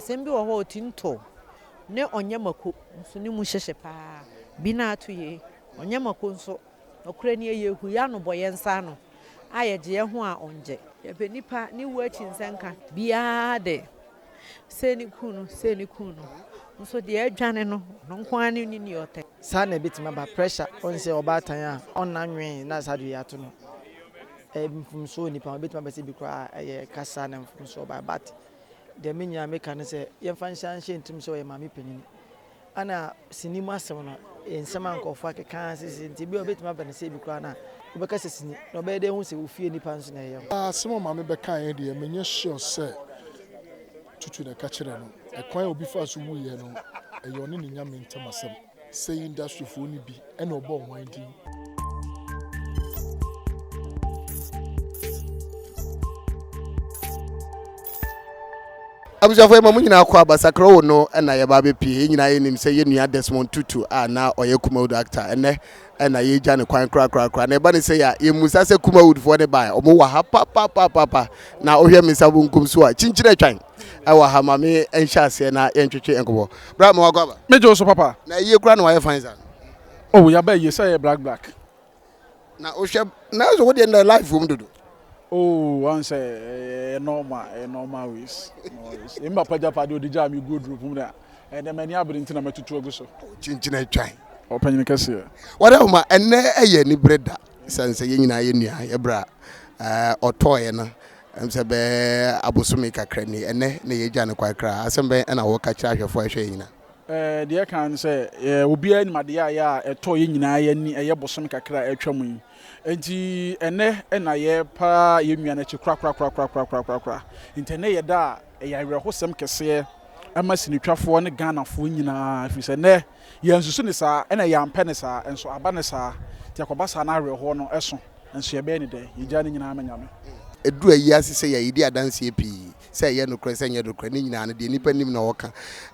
Asɛm bi wɔ hɔ a Otinto ne Onyamako nso ne mu hyehye paa. Bi no ara to yie. Onyamako nso, nokorɛ nie, yɛhu yɛn ano bɔ yɛn nsa ano a yɛgye yɛn ho a ɔnngye. Yɛpɛ nnipa ne wuo akyi nsɛnka. Biara de, sei ne kuu no, sei ne kuu no. Nso deɛ adwane no, ɔno nko ara ne ne ni ɔtɛ. Saa na ɛbɛtumi aba. Pressure, wohu sɛ ɔbaatan a ɔnna nwee na saa deɛ yɛato no, ɛyɛ mfomsoɔ wɔ nnipa ho. Ɛbɛtumi aba sɛ bi koraa ɛyɛ kasa na mfomsoɔ baeɛ but Deɛ me nyinaa meka ne sɛ yɛmfa nhyɛ nhyɛ ntom sɛ ɔyɛ maame panyin. Ɛna sini mu asɛm no yɛ nsɛm a nkurɔfoɔ akeka sisi nti ebi a ɔbɛtumi aba ne sɛ ebi koraa na wobɛka sɛ sini na ɔbɛyɛ dɛ ehu sɛ wo fie nipa nso na ɛyɛ ho. Asɛm a maame bɛkaeɛ deɛ menyɛ sure sɛ Tutu na ɛka kyerɛɛ no. Ɛkwan a obi faa so wuiɛ no ɛyɛ ɔne ne nyame ntam asɛm. Sɛ industryfoɔ no bi na ɔbɔ hwan din? abusuafo yɛma mo nyinaa kɔ aba sakrawo no na yɛba abɛpie yɛn nyinaa yɛnim sɛ yɛn nua desmond tutu a na ɔyɛ kumawood actor ɛnɛ ɛna yɛgya ne kwan korakorakora na ɛba ne sɛ yɛ a yɛmmusa sɛ kumawoodfoɔ ne baɛ ɔmo wɔ ha papapapapa na wohwɛ me nsa bonkum so a kyinkyini atwan ɛwɔ ha ma me nhyɛ aseɛ na yɛntwetwe nkɔbɔ bra ma wakɔ aba me gye so papa na ayie kora na wayɛ fine sa oh yaba ayie sɛ yɛ black black na wohwɛ na ɛsɛ wodeɛ na life wom dodo oh wan sɛ ɛyɛ normal ɛyɛ normal ways ɛmi papa gya pa deɛ ɔde gyaa me guo duro pum na ɛnɛ mani abere nti na matutu agu so kyinkyina atwan ɔpanyini kɛseɛ wɔde ahoma ɛnɛ ɛyɛ anibere da sɛn sɛ yɛn nyinaa yɛ nua yɛbrɛ a ɔtɔɔeɛ no Ɛm sɛ bɛɛ abosome kakra ni, ɛnnɛ na yɛagya no kwan kra. Asɛm bɛn na wɔka kyerɛ ahwɛfoɔ a ɛhwɛ yɛn nyinaa? Ɛɛ, deɛ ɛka ne sɛ, ɛɛ, obiara nim adeɛ a ɛyɛ a ɛtɔɔ yɛn nyinaa yɛn ani, ɛyɛ bosome kakra a atwam yi. Enti ɛnnɛ na yɛrepa yɛn nua no akyi korakorakorakorakorakorakorakorakoraa. Enti ɛnnɛ yɛ da a ɛyɛ awerɛhosɛm kɛseɛ ma sinitwafoɔ ne Ghanafoɔ nyinaa, ɛfiri sɛ ɛnnɛ Yɛansusu no saa, ɛna yɛampɛ no saa, nso aba no saa, nti ɛkɔba saa na awerɛhoɔ no so nso yɛbɛyɛ no dɛn? Yɛgyaa ne nyinaa ma Nyame. Ɛduru ayiase sɛ yɛn, yɛdi adanseɛ pii, sɛ ɛyɛ nokorɛ, sɛ ɛnyɛ nokorɛ, ne nyinaa no, deɛ nnipa nim na wɔka.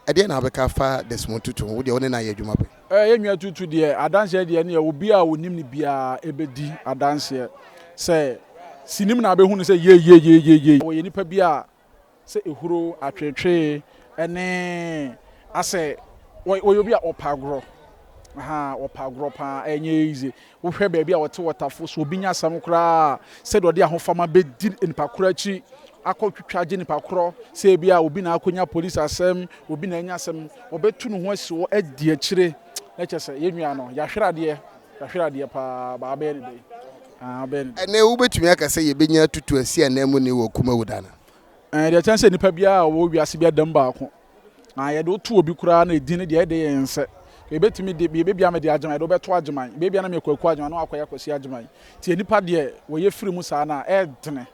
Ɛdeɛn na wobɛka afa Desmond Tutu ho? Wo deɛ, wo ne no ayɛ adwuma pɛn? Yɛn nua Tutu deɛ, adanseɛ deɛ ɛneɛ, obiara a ɔnim no biara bɛdi adanseɛ sɛ, sinim na abɛhu no sɛ yei, yei, yei, yei, yei. Ɔyɛ nipa bi a sɛ ehuro, atweetwee ne asɛ wɔ wɔyɛ obi a ɔpɛ agorɔ ahaa ɔpɛ agorɔ paa ɛnyɛ easy wohwɛ baabi a ɔte wɔtafo so obi nya asɛm koraa sɛdeɛ ɔde ahofama bɛdi nipa korɔ akyi akɔ twitwa agye nipa korɔ sɛ ebi a obi na akɔnya polisi asɛm obi na anya asɛm ɔbɛtu ne ho asi hɔ adi akyire na kyɛ sɛ yɛn nua no yɛahwere adeɛ Yɛahwere adeɛ paa, but wobɛyɛ no dɛn? Aah wobɛyɛ no dɛn? Ɛnnɛ wobɛtumi aka sɛ yɛbɛnya atutu asi ananmuni wɔ Kumawu da no? Ɛɛ, deɛ ɛkyɛn sɛ nnipa biara a wɔwɔ wiase biara da mu baako. Na yɛde wo to obi koraa na edin no deɛ, ɛde yɛn nsɛ. Yɛbɛtumi de, biribi biara mede Agyeman, yɛde wo bɛto Agyeman. Baabi a na meyɛ Kwaku Agyeman, na woakɔyɛ Kwasi Agyeman. Nti nnipa deɛ, wɔyɛ firi mu saa no a, ɛyɛ dene.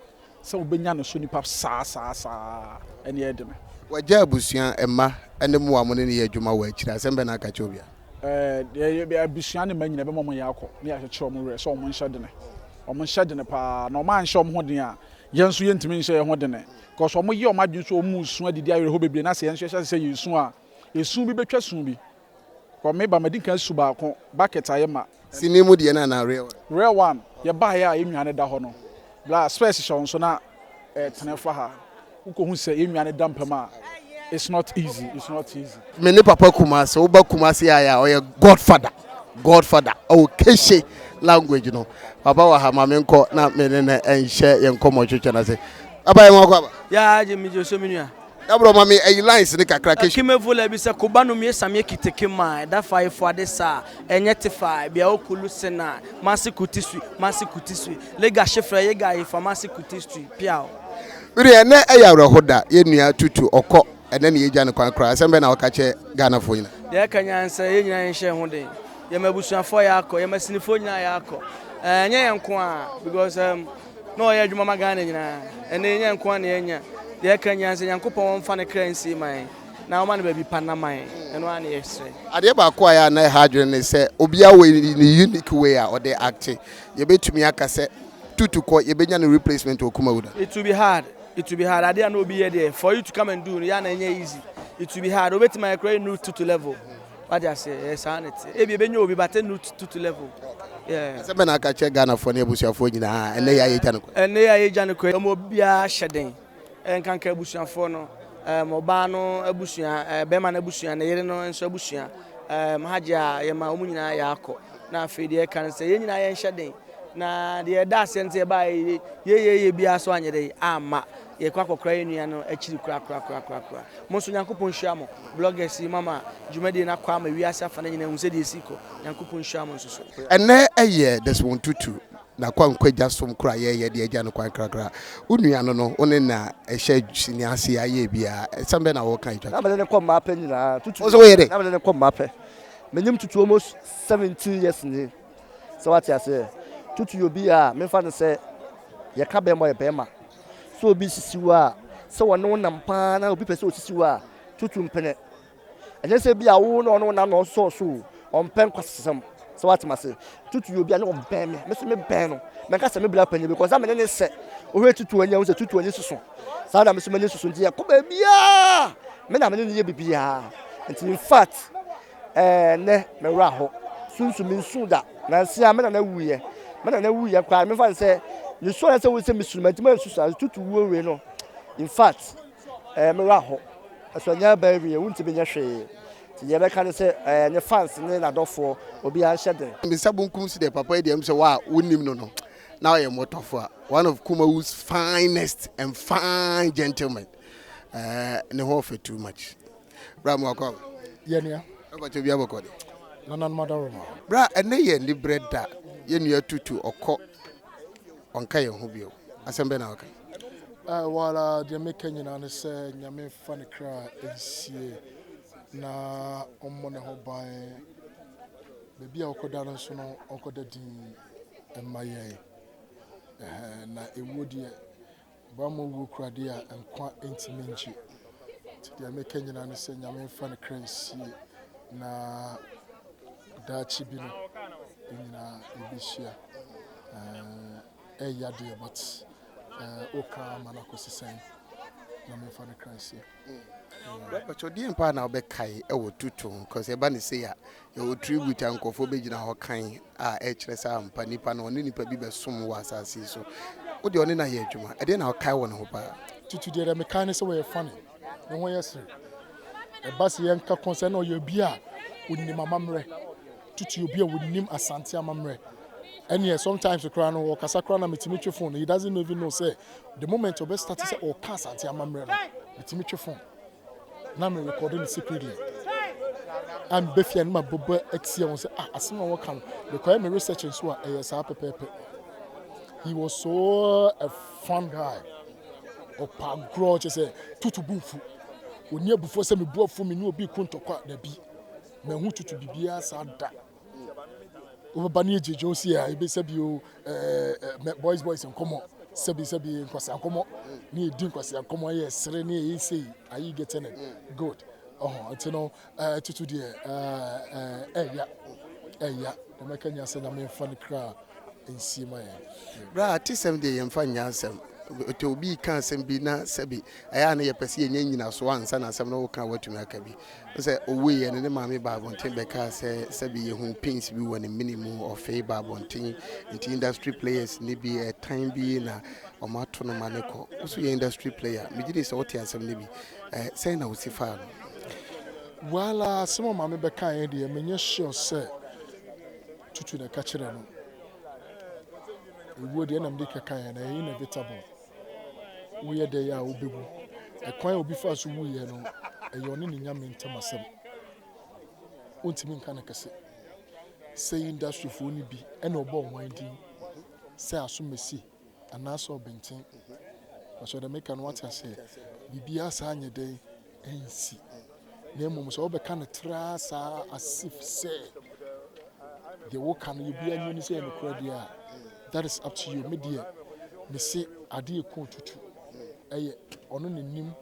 Sɛ wobɛnya no so nnipa saa saa saa ɛnneɛ ɛde me. W'agya abusua, mma, ne mmoa a mo ne no yɛ adwuma wɔ akyire, asɛm bɛn na aka akyerɛ obiara? Ɛɛ, abusua ne mma nyinaa ɛbɛma wɔayɛ akɔ ne yɛakyekyere wɔn werɛ sɛ wɔnhyɛ dene. Wɔnhyɛ dene pa ara, na wɔanhyɛ wɔn ho den a, yɛn nso yɛntumi nhyɛ yɛn ho dene. Because wɔyɛ wɔn adwene sɛ wɔresu adidi awerɛhoɔ bebree na sɛ yɛn nso yɛhyɛ ase sɛ yɛresu a, esu bi bɛtwa su bi. Kɔ me ba madi kan su baako bucket ayɛ ma. Sini mu deɛ no anaa real one. Real one yɛ baa yɛ a yɛ nnuane da hɔ no bla spɛs hyɛ wo nso na tene fa ha wo kɔ hu sɛ yɛ nnuane da mpam a it's not easy it's not easy. Me ne papa kumase wo ba kumase ayɛ a ɔyɛ godfather godfather ɔwɔ keshe language no papa wɔ ha ma me nkɔ na me ne no nhyɛ yɛ nkɔmɔ twetwe no ase aba yɛ nwa kɔ aba. Yaa agye me gye so me nua. Na brɔ ma me ayi lines no kakra kɛhwɛ. Kime vola bi sɛ koba no mie samie kite kima ɛda fa efo ade sa ɛnyɛ te fa bia o kulu se na masi kuti sui masi kuti sui lega she frɛ ye ga ye fa masi kuti sui piaw. Mede ɛnɛ ɛyɛ awerɛho da yɛn nua Tutu ɔkɔ ɛnɛ na yɛgya no kwan koraa asɛm bɛn na woka kyerɛ Ghanafoɔ nyinaa? Deɛ ɛka nyinaa ne sɛ yɛn nyinaa yɛnhyɛ yɛn ho den yɛn abusuafoɔ yɛakɔ yɛn masinifoɔ nyinaa yɛakɔ ɛnyɛ yɛn nko ara because ɛɛm. Na ɔyɛ adwuma ma Ghana nyinaa. Ɛnɛ yɛn nko ara na yɛanya. Deɛ ɛka nyinaa sɛ Nyankopɔn ɔmfa ne kra nsie ma yɛn na ɔma no baabi pa nna ma yɛn. Ɛno ara na yɛsrɛ. Adeɛ baako a ɛyɛ a na ɛha adwene ne sɛ obiara wɔ ne unique way a ɔde acte. Yɛbɛtumi aka sɛ Tutukɔ yɛbɛnya ne replacement wɔ Kumawu da? It will be hard, it will be hard. Adeɛ a na obi yɛ deɛ, for you to come and do no, yɛ a na ɛnyɛ easy. It will be hard. Obɛtumi ayɛ koraa, ɛnnu Tutu level. Wate ase, ɛɛ saa na ɛteɛ. Ebia ɛbɛnya obi but ɛnnu two two level. Yeah. Asɛm bɛn na aka kyerɛ Ghanafoɔ ne abusuafoɔ nyinaa ɛnnɛ yi a yɛregya no kɔ yi? Ɛnnɛ yi a yɛregya no kɔ yi, ma obiara hyɛ den. Ɛnkanka abusuafoɔ no, um, ɔbaa no abusua, uh, bɛrima no abusua, ne yere no nso abusua, um, hajj a yɛma wɔn nyinaa yɛakɔ. Na afei deɛ ɛka no sɛ yɛn nyinaa yɛnhyɛ den. Na deɛ ɛda aseɛ no sɛ yɛbaa yɛyɛ yɛyɛ biara so anyɛ dɛ amma. Yɛkɔ akɔkora yɛn nua no akyiri korakorakorakoraa. Mo nso Nyankopɔn nhyira mo, bloggers yi, moama dwumadie no akɔ ama wiase afa no nyinaa ahu sɛdeɛ ɛsi kɔ. Nyankopɔn nhyira mo nso so. Ɛnnɛ yɛ Desmond Tutu na Kwankwa Gya som koro a yɛreyɛ de agya no kwan krakra. Wo nua no no, wone na ɛhyɛ sini ase a yɛyɛ biara. Asɛm bɛn na woreka atwa to? Na mene no kɔ mmaa pɛ nyinaa. Tutu. Wo nso woyɛ dɛn? Na mene no kɔ mmaa pɛ. Menim Tutu almost 17 years nie. Sɛ wate aseɛ? Tutu obi a memfa no sɛ yɛka bɛrima ɔyɛ bɛrima. Sɛ obi sisi wo a, sɛ ɔne wo nam paa na obi pɛ sɛ osisi wo a, tutu mpene. Ɛnyɛ sɛ bi a wo na ɔne wo nam na ɔsɔɔ so o, ɔmpɛ nkwasasɛm. Sɛ wate m'ase? Tutu obi a ne ɔbɛn me, me nso mebɛn no. Mɛnka sɛ me bra panyin because na me ne ne sɛ ohwɛ tutu ani a, wohu sɛ tutu ani soso. Saa na me nso m'ani soso nti yɛkɔ baabiara me na me ne no yɛ biribiara. Nti in fact, Ɛɛ, nnɛ, me werɛ how. Sunsum, minsuu da. Nansa a, me nana wuiɛ. Me nana wuiɛ koraa no, memfa no sɛ mesuu anaasɛ wohu sɛ mesuu no, mantumi ansusu ase. Tutu wuo wei no, in fact, ɛɛ, me werɛ how. Ɛso ɛnyɛ abaa wie, wontumi nyɛ hwee. Nti deɛ yɛbɛka ne sɛ, ɛɛ, ne fans ne n'adɔfoɔ, obiara nhyɛ den. Me nsa bonkum so deɛ papa yi deɛ ɛm sɛ wo a wonim no no na ɔyɛ mmɔtɔfoa one of Kumawu's finest and fine gentlemen ɛɛ ne ho ɔfɛ too much. Bra mo akɔ aba. Yɛ nua. Ɛba kyɛ obi abɔ kɔ de. Nana no ma da roma. Bra ɛnɛ yɛ ni brɛ da. Yɛ nua tutu ɔkɔ ɔnka yɛn ho bio. Asɛm bɛn na waka yi. Ɛɛ wo ara deɛ meka nyinaa ne sɛ Nyame nfa ne kra nsie na ɔmmɔ ne ho ban. Baabi a ɔkɔ da no nso no ɔnkɔ da dinn mma yɛn. Ɛhɛɛ na ewuo deɛ Bammɔ wuo kura deɛ a nkwa ntumi ngye. Nti deɛ meka nyinaa ne sɛ Nyame mfa ne kra nsie na daakye bi no yɛn nyinaa yɛbɛhyia. Ɛyɛ yadeɛ but woka ama no akɔsi sɛn? Nyame mfa ne kra nsie. Bɛpɛkyɛw deɛn paa na wobɛkae wɔ tuto ho cause ɛba ne sei a yɛwɔ tribute a nkurɔfoɔ bɛgyina hɔ kan a ɛkyerɛ sɛ ampa nipa no ɔne nipa bi bɛsom wɔ asase yi so wo deɛ ɔne no ayɛ adwuma ɛdeɛn na wokae wɔ ne ho paa? Tutu deɛ deɛ mekae ne sɛ ɔyɛ funny ne ho yɛ serew ɛba sɛ yɛnka kɔn sɛ na ɔyɛ obi a ɔnim amammerɛ tutu obi a ɔnim Asante amammerɛ ɛneɛ sometimes koraa no ɔkasa koraa na metumi twe phone he doesn't even know sɛ the moment ɔbɛ start sɛ ɔka Asante amammerɛ no metumi twe phone na me record no secretly I'm befia no ma bɔbɔ atia wɔn sɛ ah asɛm a wɔka no mekɔyɛ me research nso a ɛyɛ saa pɛpɛɛpɛ he was so a fun guy ɔpa agorɔ kyɛ sɛ tutu bu mfu ɔni abufoɔ sɛ mebu afu me ne obi ku ntɔkwa dabi Mahu tutu biribiara saa da. Wobɛba ne yɛgyegye wo se a ebe sɛbi o ɛɛ boys boys nkɔmmɔ sɛbi sɛbi nkwasea nkɔmmɔ ne yɛdi nkwasea nkɔmmɔ ɛyɛ sere ne ɛyɛ sei are you getting it good ɔho nti no ɛɛ tutu deɛ ɛɛ ɛya ɛya na mɛka nyɛ sɛ nyame mfa ne kra nsie ma yɛn. Bra atesɛm deɛ yɛmfa nyɛ asɛm ɛtɔ obi ka asɛm bi na sɛbi ɛyɛ a na yɛpɛ sɛ yɛnya nyinasoɔ ansa na asɛm no woka a woatumi aka bi Sɛ ɔwuiɛ no, ne maame baa abɔnten bɛkaa sɛ sɛbi yɛhuu pins bi wɔ ne mene mu, ɔfee baa abɔnten, nti industry players no bi ɛtan bi na wɔato no ma no kɔ. Wo nso yɛ industry player? Megye di sɛ wote asɛm no bi. Sɛn na wosi faa no? Well, asɛm a maame bɛkaeɛ deɛ, menyɛ sure sɛ Tutu na ɛka kyerɛɛ no. Ɛwuo deɛ ɛna mede kɛkaeɛ no, ɛyɛ inevitable. woyɛ dɛn a wubewu. Ɛkwan a obi faa so wui no, ɛyɛ ɔne ne Nyame ntam asɛm. Wontumi nka no kɛse. Sei industryfoɔ no bi ɛna ɔbɔ ɔman din sɛ asomasi anaasɛ ɔbenten. Wɔsɛ ɔdɛ meka no wate aseɛ. Biribiara saa nyɛ dɛn ansi, na mmom sɛ wobɛka no traa saa as if sɛ deɛ woka no obiara nim ne sɛ ɛyɛ nokorɛ deɛ a, that is up to you. Me deɛ, mese adeɛ ɛku otutu. Ɛyɛ ɔno na nim,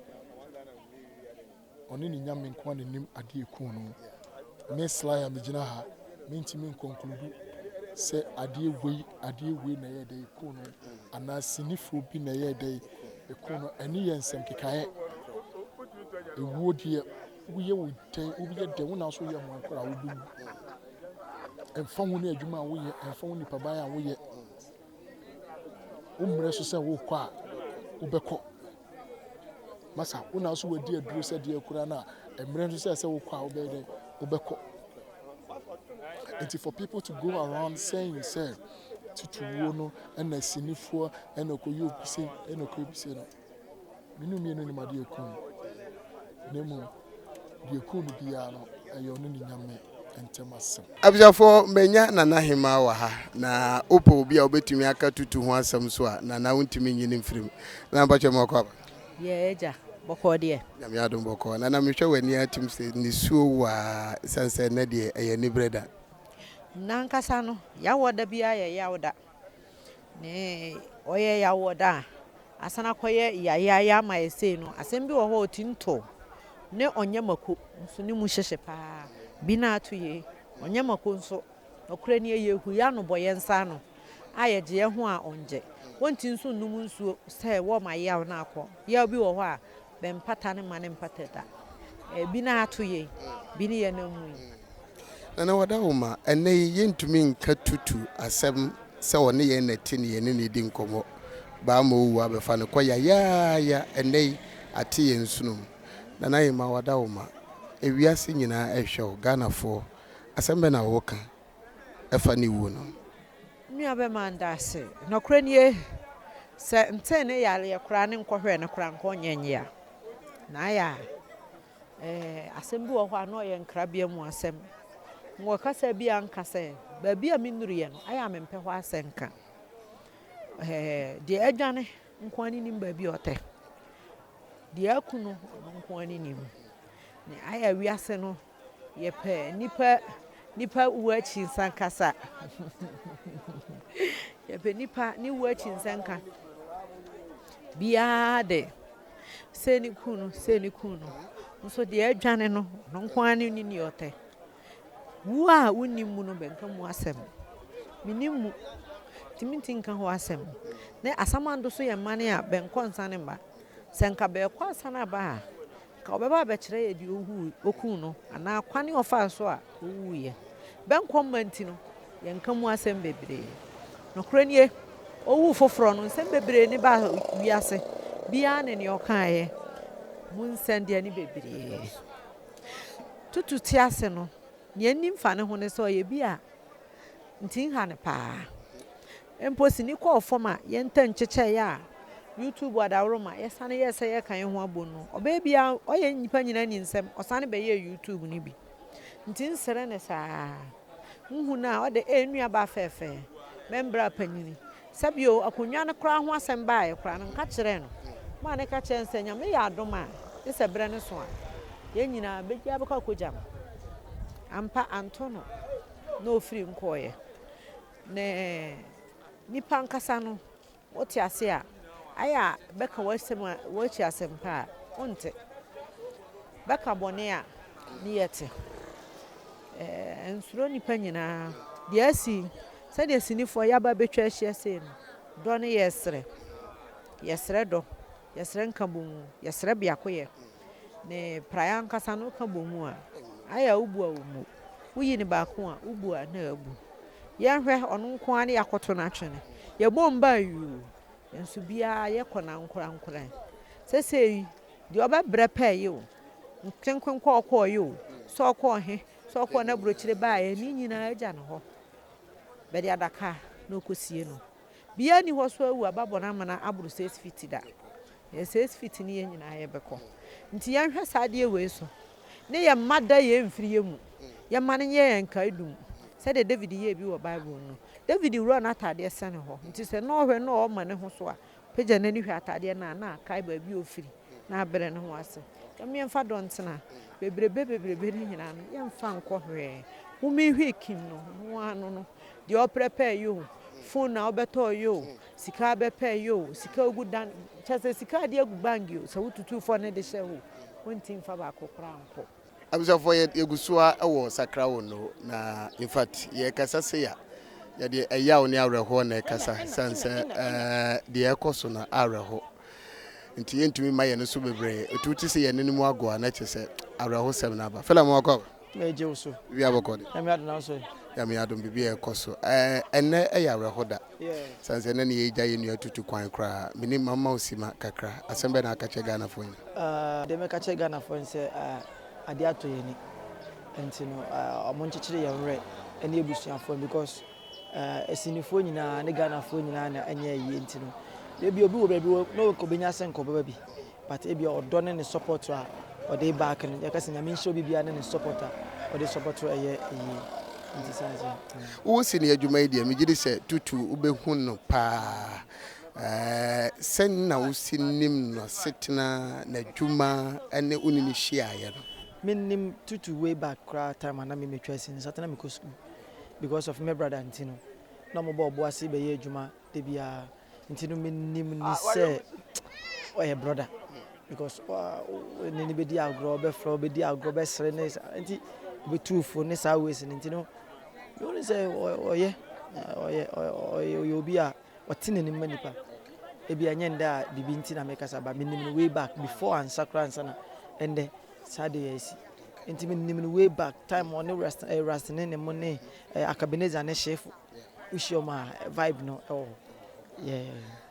ɔne ne nyame nko ara na nim adeɛ ɛku no. Me Sly a megyina ha, mentumi nkɔnkuludu sɛ adeɛ wei, adeɛ wei na ɛyɛ dɛ ɛku no, anaa sinifoɔ bi na ɛyɛ dɛ Ekun no, ɛno yɛ nsɛm kekaeɛ. Ewuo deɛ, woyɛ wo dɛn, wobɛyɛ dɛn, wo na nso woyɛ ho akora a wobɛwu. Ɛmfa ho ne adwuma a woyɛ, ɛmfa ho nipaban a woyɛ. Wo mmerɛ so sɛ wokɔ a, wobɛkɔ. Masa, wo na nso wadi aduro sɛ deɛ kura no a, mmerɛ nso sɛ sɛ wokɔ a wobɛyɛ dɛn, wobɛkɔ. Nti for people to go around saying sɛ titiriwuo no na sinifoɔ na ɛkɔyɛ opise na ɛkɔyɛ opise no, me ne mmienu nim adeɛ ɛkum no, na mmom deɛ ɛkum no biara no, ɛyɛ ɔne ne Nyame ntam asɛm. Abusuafoɔ, manya Nana Hemaa wɔ ha, na wopɛ obi a wobɛtumi aka tutu ho asɛm nso a, Nana wontumi nyi no mfiri mu. Nana mpakyɛ mma ɔkɔ aba. Yɛɛ agya, bɔkɔɔ deɛ? Nyame adom bɔkɔɔ. Nana mehwɛ w'ani ara tim sɛ nisuo wo ara, ɛsiane sɛ nnɛ deɛ ɛyɛ aniberɛ da. N'ankasa no, Yawɔda biara yɛ Yawda. Ne ɔyɛ Yawɔda a, asan akɔyɛ Yayaya ama ayɛ sei no, asɛm bi wɔ hɔ a Otinto ne Ɔnyɛmako nso ne mu hyehye pa ara. Bi no ara to yei. Ɔnyɛmako nso, nokorɛ nie, yɛhue ano bɔ yɛn nsa ano a yɛgye yɛn ho a ɔnngye. Wonti nso nnum nsuo sɛ wɔrema yaw no akɔ. Yaw bi wɔ hɔ a, Bɛ mpata ne mma ne mpata da. Ebi na ato yɛ yi, bi ne yɛ na mu yi. Nana Wadawoma, Ɛnnɛ yi yɛntumi nka tutu asɛm sɛ ɔne yɛn na ɛte ne yɛne no redi nkɔmmɔ. Baama Owu abɛfa no kɔ yayaaya ɛnnɛ yi ate yɛn nsono mu. Nana Hemaa Wadawoma, Ewiase nyinaa rehwɛ wo, Ghanafoɔ, asɛm bɛn na woka fa ne wuo no ho? Nuabɛma nda ase. Nokorɛ nie, sɛ ntee ne yareɛ koraa ne nkɔhwɛɛ no koraa nka ɔnyɛ nyea. Na ayɛ a, eh, asɛm bi wɔ hɔ a na ɔyɛ nkrabea mu asɛm. Wɔ kasa bi a nka sɛ, baabi a menuruiɛ no, ayɛ a mempɛ hɔ asɛnka. Eh, deɛ adwane nko ara ne nim baabi a ɔtɛ. Deɛ aku no, ɔno nko ara ne nim. Ne ayɛ a wiase no Yɛpɛ nipa nipa wu akyi nsa kasa. Yɛpɛ nipa ne wu akyi nsa nka. Biara de sɛ ne kun no sɛ ne kun no nso deɛ adwane no no nko ara ne ne ni ɔtɛ. Wu a wonni mu no bɛnka mu asɛm. Menim mu tumi nti nka ho asɛm. Ne asamando so yɛ mmane a bɛnkɔ nsane mma. Sɛ nka bɛkɔ asane aba a Ka ɔbɛba abɛkyerɛ yɛ deɛ ɔwuui, ɔkuu no, anaa kwan a ɔfaa so a ɔwuiɛ. Bɛnkɔ mma nti no, yɛnka mu asɛm bebree. Nokorɛ nie, ɔwuu foforɔ no, nsɛm bebree ne baa wiase, biara ne deɛ ɔkaeɛ mu nsɛnneane bebree. Tutu tease no, deɛ nni mfa ne ho ne sɛ ɔyɛ bi a nti nha no paa. Mpo sini kɔɔ fam a yɛntɛ nkyekyɛe a YouTube adaworo ma yɛsane yɛɛ sɛ yɛka yɛn ho abom no, ɔbaa biara ɔyɛ nnipa nyinaa ani nsɛm, ɔsane bɛyɛɛ YouTube no bi. Nti nsere no saa. Nhu no a, ɔde, ee nuabaa fɛɛfɛɛ, me mbra panyin. Sɛ bio, akonnwa no koraa ho asɛm baeɛ koraa no, nka kyerɛɛ no. Maa no ka kyerɛɛ no sɛ, Nyame yɛ adom a, gye sɛ berɛ no so a, yɛn nyinaa, bɛbiara bɛkɔ akɔgya no. Ampa, anto no na ɔfiri nkɔeɛ. Ne nnipa ankasa no, wote ase a, ayɛ a bɛka w'asɛm a, woakyi asɛmpa a, wonte. Bɛka bɔne a, ne yɛ te. Ɛɛ, nsuro nnipa nyinaa. Deɛ asi, sɛdeɛ sinifoɔ yɛaba abɛtwa ahyia sei no, dɔ ne yɛsrɛ. Yɛsrɛ dɔ, yɛsrɛ nkabom, yɛsrɛ biakoyɛ. ne praeɛ ankasa no woka bɔ mu a ayɛ a wobu a wɔmmu woyi ne baako a wobu a na abu yɛnhwɛ ɔno nko ara ne yɛakoto no atwene yɛbɔ mba yuu nso biara yɛkɔ no ankorankora sɛsɛ yi deɛ ɔbɛbrɛ pɛɛ yi o nkenkwen kɔ ɔkɔɔ yi o sɛ ɔkɔɔ he sɛ ɔkɔɔ no aburokyire baeɛ ne nyinaa agya no hɔ bɛde adaka na ɔkɔsie no Biaa nni hɔ so awu aba bɔne amena aboro six feet da. Yɛ six feet ne yɛn nyinaa yɛbɛkɔ. Nti yɛnhwɛ saa adeɛ wei so ne yɛn mma da yɛn mfiri yɛn mu. Yɛmma no nyɛ yɛn nkaedum sɛdeɛ David yɛɛ bi wɔ Bible mu no. David wura n'ataadeɛ sɛne hɔ. Nti sɛ na ɔhwɛ na ɔɔma ne ho so a, ɔpagya n'ani hwɛ ataadeɛ no a, na akae baabi a ɔfiri. na abrɛ ne ho ase. Dɛm yɛmfa dɔ ntsena, beberebe beberebe no nyina no yɛmfa nkɔ hwee. Wo me hwee kin no, hom ano no, deɛ ɔprɛpɛɛ yɛ o, phone a wobɛtɔɔ yɛ o, sika abɛpɛɛ yɛ o, sika ogu dan, kyɛsɛ sika a ade agu bank o, sɛ wotutuu fɔ no de hyɛ o, wonti mfa baako koraa nkɔ. Abusuafoɔ yɛ yɛgu so ara ɛwɔ sakra wɔ no na in fact yɛkasa sei a yɛde ɛyaw ne awerɛhoɔ na ɛkasa sane sɛ ɛɛ deɛ ɛkɔ so no awerɛho nti yɛntumi ma yɛn so bebree ɛtu ti sɛ yɛn no mu ago a na kyɛ sɛ awerɛhosɛm no aba fela mu akɔ aba mɛgye wo so biribi abɔkɔ de ɛmi adena so ɛmi adom biribi a ɛkɔ so ɛɛ ɛnɛ ɛyɛ awerɛho da Ɛsiane sɛ na ne yɛn agya yɛ nua tutu kwan koraa. Menim, mamma wo simma kakra. Asɛm bɛn na woaka kyerɛ Ghanafoɔ yi? Ah, deɛ mɛka akyerɛ Ghanafoɔ yi ne sɛ, ah, adeɛ atɔ yɛn ani. Ɛnti no, ah, wɔnkyekyere yɛn werɛ ɛne abusuafoɔ no because, ah, Asinifoɔ nyinaa ne Ghanafoɔ nyinaa na ɛnyɛ ayie. Ɛnti no, ebia obi wɔ baabi wɔ, na ɔka ɔbɛnya sɛ nka ɔbɛba bi. But ebia ɔdɔ ne ne support a ɔde back no yɛka sɛ Nyame nhyira obi biara ne ne support a ɔde support no ɛyɛ yie nti saa nti. Wo sini adwuma yi deɛ megye di sɛ tutu wobɛhu no paa eh, sɛn na wosi nim n'asetena, n'adwuma ne wo ne no hyiaeɛ no? Me nim tutu way back koraa time a na me metwa sini saa time na mekɔ sukuu because of me brother nti no na ɔmo bɔ ɔbo ase bɛyɛ adwuma da biara. Nti no menim ni sɛ ɔyɛ brɔda because ne ne bɛdi agorɔ bɛfrɛ wo bɛdi agorɔ bɛsere ne nti bɛtu fo ne saa ways no nti no mehu sɛ ɔyɛ ɔyɛ ɔyɛ obi a ɔte n'anim ma nipa ebi ɛnyɛ ndɛ a biribi nti na mekasa ba menim no way back before ansa koraa ansa na ɛndɛ saa de yɛ asi nti menim no way back time ɔne rastene ne mo ne eh, akabineza ne hyefo Yeah. Wo hyia ɔmo a vibe no ɛwɔ hɔ. Yeah.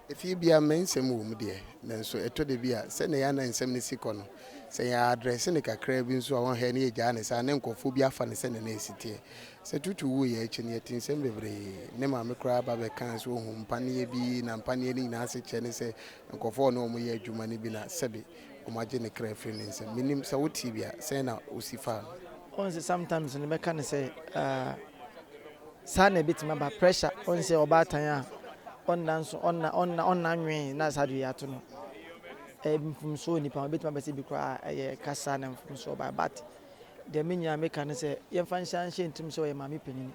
Efie biara mmɛ nsɛm wɔ mu deɛ, nanso ɛtɔ da bi a sɛnea yɛn anan nsɛm no si kɔ no, sɛ yɛ address no kakraa bi nso a wɔn hɛ na yɛgyaa no saa na nkorɔfoɔ bi afa no sɛnea na ɛsi teɛ. Sɛ Tutu wuiɛ akyi no, yɛte nsɛm bebree. Ne maame koraa ba bɛkaa sɛ ɔhuu mpaneɛ bi na mpaneɛ no nyinaa ase kyerɛ ne sɛ nkorɔfoɔ a ɔne wɔn yɛ adwuma no bi na sɛbe wɔn agye ne kra afiri ne nsam. Mennim sɛ wotee bi a, sɛn na wosi faa no? Wɔn sɛ sometimes no bɛka no sɛ, ah. Saa na ebetumi aba. Pressure, ɔn sɛ ɔbaatan a ɔnna nso, ɔnna, ɔnna, ɔnna nwee na saa de yɛato no. Ɛyɛ mfomso wɔ nnipa ho. Ebetumi aba sɛ ebi koraa ɛyɛ kasa na mfomso ɔbae. But deɛ me nyinaa meka ne sɛ, yɛmfa nhyɛ anhyɛ yɛn tirim sɛ ɔyɛ maame panin.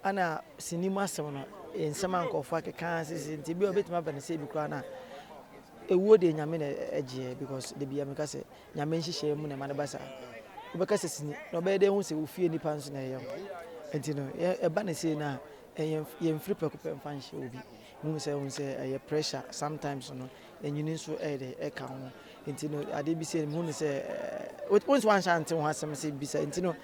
Ɛna sini mu asɛm no, nsɛm a nkurɔfoɔ akeka ara sesei nti, ebia obetumi aba no sɛ ebi koraa na ewuo deɛ Nyame na ɛgyeɛ because da biara meka sɛ, Nyame nhyehyɛɛ mu na ɛma no ba saa. Wobɛka sɛ sini, na ɔbɛyɛ dɛ ahu sɛ wo fie nnipa nso na ɛyɛ no. Enti no, ɛba no sei no a, yɛmfiri prɛko pɛ mfa nhyɛ obi. Wohu sɛ wohu sɛ ɛyɛ pressure sometimes no, ɛnyini nso ɛyɛ dɛ ɛka ho. Enti no, adeɛ bi sei no, mehu no sɛ, wo nso wanhyɛ ante ho asɛm sɛ bisa. Enti no,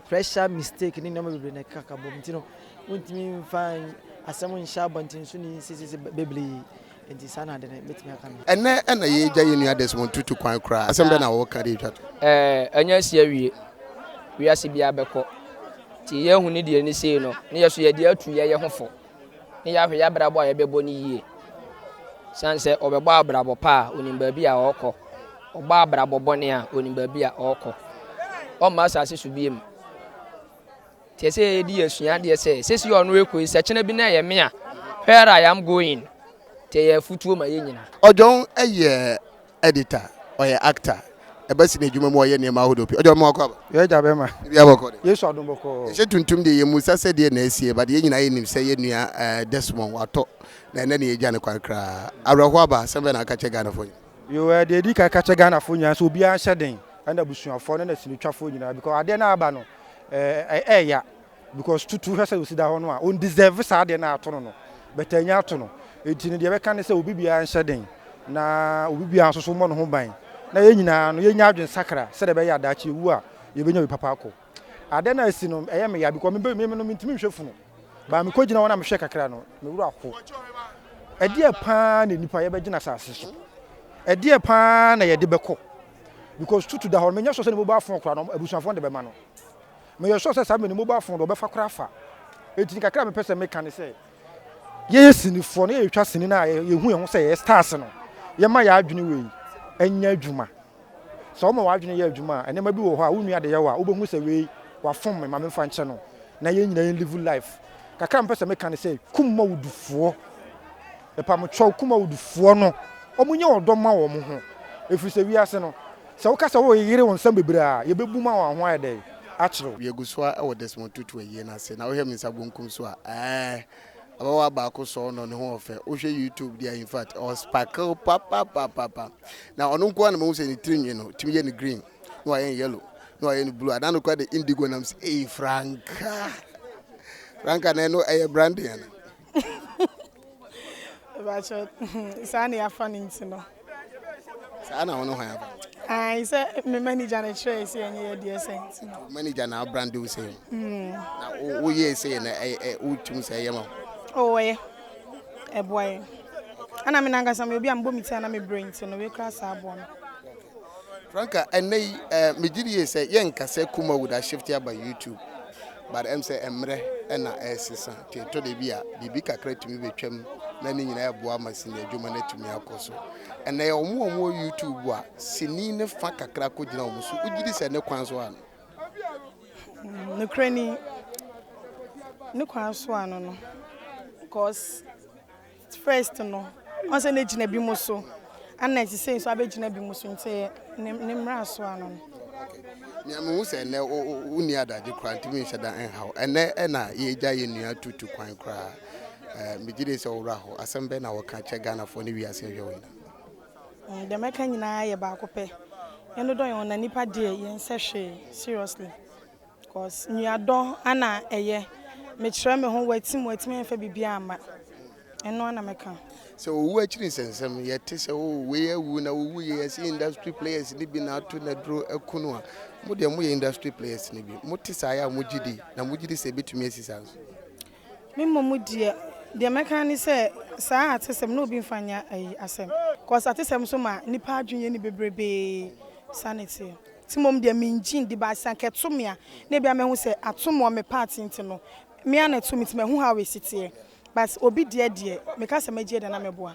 pressure, mistake ne nneɛma bebree na ɛkaka bom. Enti no, wontumi mfa asɛm nhyɛ abɔnten so ni sesese bebree. Enti saa na ade no betumi aka no. Ɛnnɛ na yɛagya yɛn nua Desmond Tutu kwan koraa. Asɛm bɛn na wɔka de atwa to? Ɛɛ, ɛnyɛ asi awie. Wiase biara bɛkɔ. Enti yɛahu ne deɛ no sei no, na yɛn nso yɛde atu yɛn yɛ ho fo, na yɛahwɛ yɛn abrabɔ a yɛbɛbɔ no yie. Ɛsiane sɛ ɔbɛbɔ abrabɔ pa a, ɔnim baabi a ɔrekɔ. Ɔbɔ abrabɔ bɔne a, ɔnim baabi a ɔrekɔ. Ɔremma asase so bio. Te sɛ yɛde yɛ sua adeɛ sɛ sɛsi ɔno rekɔ yi sɛkyena bi na ɛyɛ me a where I am going te yɛ afutuo ma yɛ nyina. Ɔjɔn yɛ editor, ɔyɛ actor, ɛba sini adwuma mu ɔyɛ nneɛma ahodoɔ pii. Ɔjɔn ma wakɔ aba. Yɛ agya bɛma. Biribiara bɔkɔ de. Yesu adom bɔkɔɔ. Yɛhyɛ tuntum deɛ yɛ musa sɛ deɛ na asie but yɛ nyinaa yɛ nim sɛ yɛ nua Desmond watɔ na ɛnɛ ne yɛ gya no kwan koraa. Awerɛhoɔ aba, asɛm bɛn na woka kyɛ Ghanafoɔ nyinaa? Yoo ɛɛ deɛ ɛdi kan ɛka kyɛ Ghanafoɔ nyinaa sɛ obiara nhyɛ den ɛna abusuafoɔ no ɛna sinitwafoɔ nyinaa because adeɛ no a aba no ɛyɛ ya because tutu hwɛ sɛ osi da hɔ no a on deserve saa adeɛ no a ato no no but anya ato no enti no deɛ ɛbɛka ne sɛ obi biara nhyɛ den na obi biara nso so mmɔ ne ho ban na yɛn nyinaa no yɛnya adwene sakra sɛdeɛ ɛbɛyɛ adaakye ewu a yɛbɛnya bi papa akɔ adeɛ no a asi no ɛyɛ me ya because me me no mentumi nhwɛ funu baa mekɔ gyina hɔ na mehwɛ kakra no me wura ho ɛdeɛ paa na nipa yɛbɛgyina asase so ɛdeɛ paa na yɛde bɛkɔ because tutu da hɔ no menyɛ sure sɛ ne mobile phone koraa no abusuafoɔ no de bɛma no meyɛ sure sɛ saa mmerɛ ne mobile phone de ɔbɛfa koraa fa ɛti ne kakra a mepɛ sɛ meka ne sɛ yɛyɛ sinifoɔ no yɛtwa sini no a yɛhu yɛn ho sɛ yɛyɛ stars no yɛma yɛ adwene wei ɛnyɛ adwuma sɛ woma w'adwene yɛ adwuma a ɛnɛma bi wɔ hɔ a wonua de yɛ wɔ a wobɛhu sɛ wei wafom me ma memfa nkyɛ no na yɛn nyina yɛn live life kakra mepɛ sɛ meka ne sɛ kum ma wodufoɔ Mepam kyɛw Kumawdfoɔ no, wɔn nyɛ ɔdɔ mma wɔn ho, ɛfiri sɛ wiase no, sɛ woka sɛ woyeyere wo nsam bebree a, yɛbɛbu mu ama wo ho ayɛ dɛn akyere wo. Yɛgu so ara wɔ Desmond Tutu ayie no ase, na wohwɛ me nsa bonkum so a, ɛɛh, ababaawa baako sɔɔ no, ne ho wɔ fɛ, wohwɛ YouTube deɛ a, in fact, ɔ sparkle papapapapa, na ɔno nko ara na mahu sɛ ne tiri nwi no, wɔtumi yɛ no green, na wɔayɛ no yellow, na wɔayɛ no blue, anaa no koraa de indigo nam sɛ, eii, frankaa, frankaa na ɛno ɛyɛ branding anaa? saa na yɛafa no nti no saa na wo ne hwan aba Ae sɛ me manager no kyerɛɛ sɛ ɛnyɛ yɛ deɛ sɛ nti no manager na abrande wo sɛ hmm. na woyɛɛ sɛ na wotum sɛ ɛyɛ ma wo ɔyɛ ɛboa yɛ ana me nankasa me obi a mebɔ me ti ana mebrɛ nti no wekura saa aboa no franka ɛnɛ yi megye die sɛ yɛnkasɛ kuma woda shift aba youtube but ɛm sɛ mmerɛ ɛna ɛresesa nti ɛtɔ da bi a biribi kakra tumi bɛtwam na ne nyinaa ɛboa ma sini adwuma no atumi akɔ so ɛnna yɛ wɔn a wɔwɔ youtube a sini ne fa kakra kɔgyina wɔn so wogye di sɛ ne kwan so ano nokorɛ ni ne kwan so ano no cause First no ɔn sɛ n'egyina bi mo so ɛna ɛte sɛ nso abɛgyina bi mo so nti ɛyɛ ne mmra so ano no. Nea mehu sɛ ɛnɛ wonni adagye koraa nti menhyɛ da nhaw ɛnɛ ɛna yɛgya yɛ nua tutu kwan koraa eh, megye de sɛ ɔwura hɔ asɛm bɛn na wɔka kyɛ Ghanafoɔ ne wiase nhwɛ wɔ nyina. Mm, deɛ mɛka nyinaa yɛ baako pɛ yɛn dodɔ yɛn ho na nipa deɛ yɛn sɛ hwee seriously. Cos nua dɔ ana ɛyɛ. Mekyerɛ me ho wati mu watumi amfa biribiara amma. Ɛno ara na mɛka. Sɛ owu akyiri nsɛnsɛm, yɛte sɛ oh wei awu na owu yɛ yɛse industry players no bi na ato na duro aku no a, mo deɛ moyɛ industry players no bi? Mote saa yɛ a mogye di? Na mogye di sɛ ɛbɛtumi asi saa nso? Me mmom deɛ, deɛ mɛka ara ne sɛ saa atesɛm no obi mfa nyɛ ayi asɛm cause atesɛm nso ma nnipa adwene yɛ ni bebrebee. Saa na ɛteɛ. Nti mmom deɛ mengye ndi but sɛ anka ɛto me a na ebia mɛhu sɛ atom wɔ me part nti no me ara na ɛto me nti mahu how ɛsi teɛ but obi deɛ deɛ meka sɛ mɛgye adi anaa mɛboa.